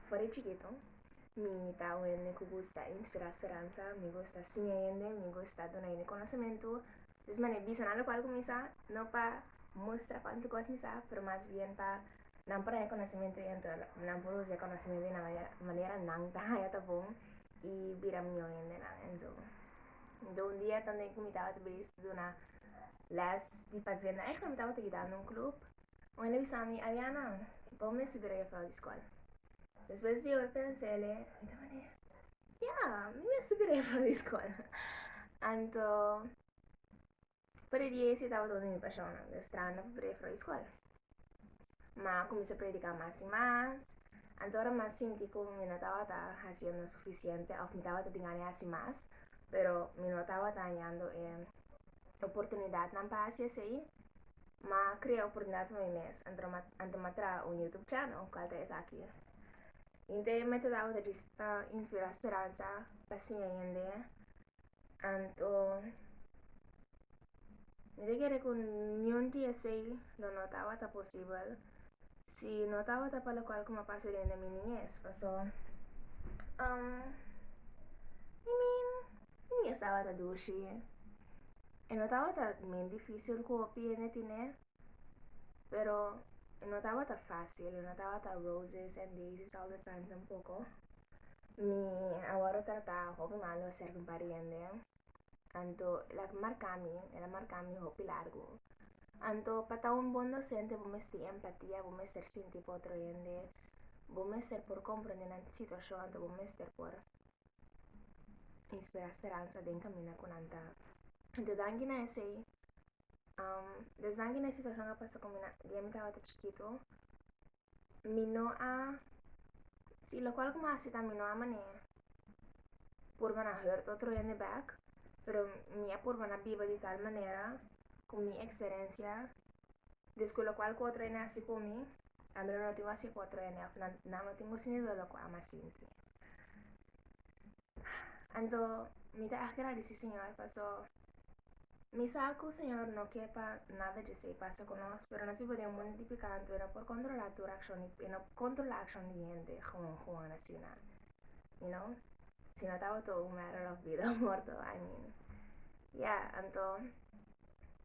For e chikitu mi ta oe hende ku gusta e inspirá speransa, mi gusta siña hende, mi gusta duna hende konosementu. Des manera bisa nan lokual ku mi sa, no pa mustra kuantu kos mi sa, pero mas bien pa nan por haña konosementu i anto nan por usa e konosementu di nan manera manera nan ta haña ta bon i bira mió hendenan. Enso do un dia tambe ku mi tabata bizi duna lès di pazenda, mi tabata yudando un klup Wende bisa mi, Ariana, bo mester bira e afro di skol. Despues di ora pensa el'e ta manera, Ya, mi mester bira e afro di skol. Anto, padidia ese tabata un di mi pashonnan, den stranda pa bira e afro di skol. Ma a kuminsá prediká mas i mas, anto ora mi a sinti ku mi no tabata hasiendo sufisiente òf mi tabata bin haña hasi mas, pero mi no tabata hañando e oportunidatnan pa hasi esei, Ma crea oportunidad pa mi mes ante ma tra un YouTube channel cual ta esaki. Inte e meta tabata di ta inspira speransa pa siña hende. Anto mi ta kere cu niun di esey lo no tabata posibel si no tabata pa locual cu ma pasa dende mi niñez. Paso um I mean Mi e tabata dushi. E no tabata men dificil cu hopi hende tine, pero e no tabata facil, e no tabata roses and daisies all the time tampoco. Mi a worde trata hopi malo acerca un par di hende, anto e la marca mi, e la marca mi hopi largo. Anto pa ta un bon docente bo mes tin empatia, bo mester sinti pa otro hende, bo mester por comprende nan situacion, anto bo mester por y spera speransa den camina cu nan ta de danki na esey um, des danki na situacion a pasa cu mi na di a mi tabata chikito mi no a si locual cu mi hasi ta mi no a mane purba na hurt otro hende back pero mi a purba na biba di tal manera cu mi experiencia dus cu locual cu otro hende hasi cu mi a mi lo no tin wasi cu otro hende of nan no tin wasi ni lo locual mi a sinti. Anto mi ta agradeci Señor paso mi sa cu Señor no ke pa nada djesey pasa cu nos, pero nos biba den mundu di pecá anto e no por controla tur accion di e no controla accion di hende gewoon gewoon asina you know si no tabato un matter of bida o morto I mean ya anto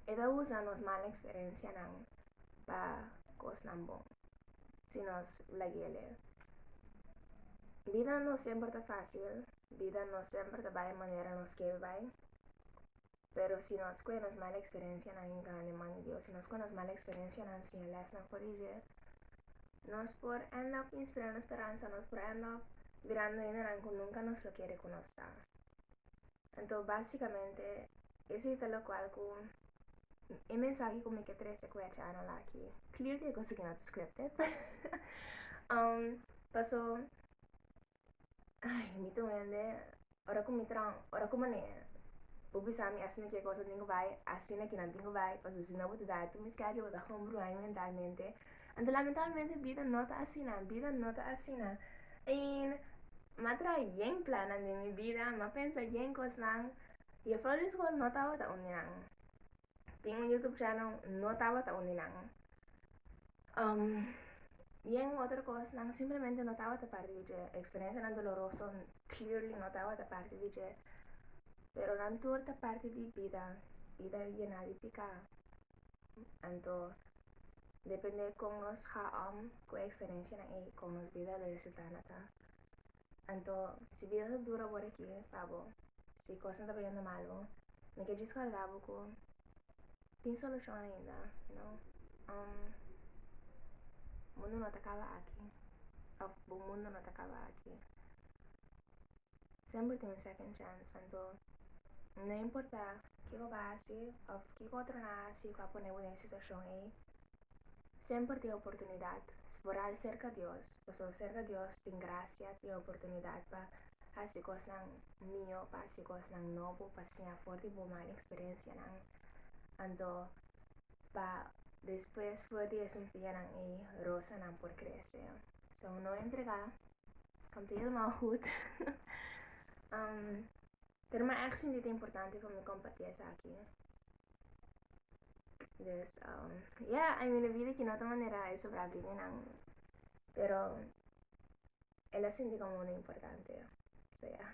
e ta usa nos mala experiencianan pa cosnan bon. si nos la guia lei. Bida no semper ta fásil, bida no semper ta bai manera nos kel bai, pero si nos kue nos mal eksperensianan i grandi man di Dios, si nos kue nos mal eksperensianan siña lèsnan for di dje, nos por end up inspirando speransa, nos por end up mirando hendenan ku nunka nos lo kere ku nos ta. Anto básicamente ese ta locual cu e mensahe cu mi ke trece cu e achano la aki. Clear cu e cosa aquí no ta scripted. um, paso, ay, mi ta wende, ora cu mi tran, ora cu mane, bo bisa mi asina cu e cosa tin cu bay, asina cu nan tin cu bay, paso si no bo ta dai tu mi schedule, bo ta hombruai mi mentalmente, Anto lamentablemente bida no ta asina, bida no ta asina. En ma tra yen planan den mi bida, ma pensa yen kosnan. Ye Florida School no tabata un di nan. Tin un YouTube channel no tabata un di nan. Um, yen otro kosnan simplemente no tabata parti di dje. Eksperensianan doloroso clearly no tabata parti di dje. Pero nan tur ta parti di bida, bida yená di piká. Anto, depende kon nos ha om ku eksperensia na ei kon nos bida lo resultá na ta. Anto, si bida ta dura bor aki pa bo, si kosnan ta bainan malu, mi ke djis kòrda bo ku tin solushon ainda, you know. Um, mundu no ta kaba aki òf bo mundu no ta kaba aki. Semper tin un second chance anto no importa kiko bo a hasi of kiko otro nan a hasi ku a pone bo den e situashon ei semper tin e oportunidat si bo rai serka Dios pasobra serka Dios tin grasia tin e oportunidat pa hasi kosnan nio pa hasi kosnan nobo pa siña for di bo mal eksperensianan anto pa despues for di e sumpianan ei rosanan por krese so no entrega Kanta helemaal goed. um, pero me echt sinti te importante voor me compartir esa aquí. Dus, um, ja, yeah, I mean, vida que no te manera eso para bien en ang. Pero, él la sinti como una importante. So, ja. Yeah.